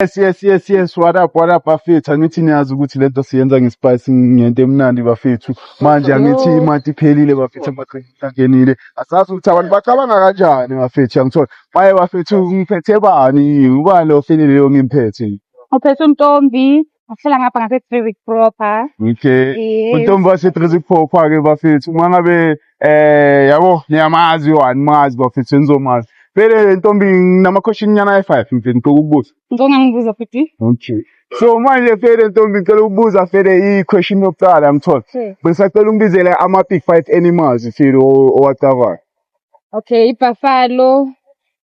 Yes yes yes yes what up what up bafethu angithi niyazi ukuthi lento siyenza ngespice ngento emnandi bafethu manje angithi imati iphelile bafethu amaqinile asazi ukuthi abantu bacabanga kanjani bafethu angithola maye bafethu ngiphethe bani ubani lo file leyo ngimphethe Uphethe untombi ahlala ngapha ngase Three Week Proper. okay Yeah. untombi wasetrizi phopha ke bafethu uma ngabe Eh yabo niyamazi yo animazi bafethu nizomazi. Vele le ntombi nginama question nyana e5 mfethu ngicela ukubuza. Ngicela ngibuza futhi. Okay. So manje Fede Ntombi ngicela ukubuza Fede i-question yokuqala yamthola. Hmm. Bengisacela ungibizele ama-big five animals Fede owacavayo. Okay, ibuffalo,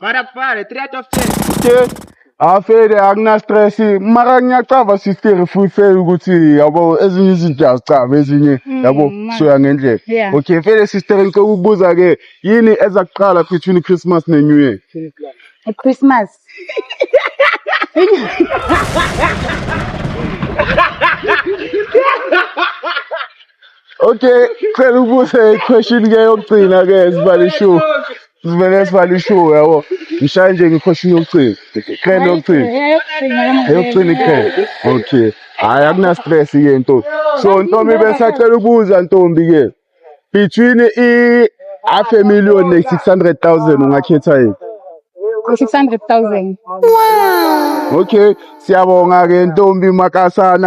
Para para, 3 of 10. Ke afede akuna stress mara ngiyacava sister futhi ukuthi yabo ezinye izinto azicava ezinye yabo Mm, man. soya ngendlela. Yeah. Okay fede sister ngicela ukubuza ke yini eza kuqala between Christmas ne New Year? Christmas. Okay, cela ubuze question ke yokugcina ke sibale show. Sibele sibale show yabo. Ngishaya nje ngequestion yokugcina. Iqhele yokugcina. Eyokugcina iqhele. Okay. Hayi akuna stress ke nto. So ntombi besacela ubuza ntombi ke. Between i half a million ne 600,000 ungakhetha yini? 600,000. Okay, siyabonga ke ntombi makasana.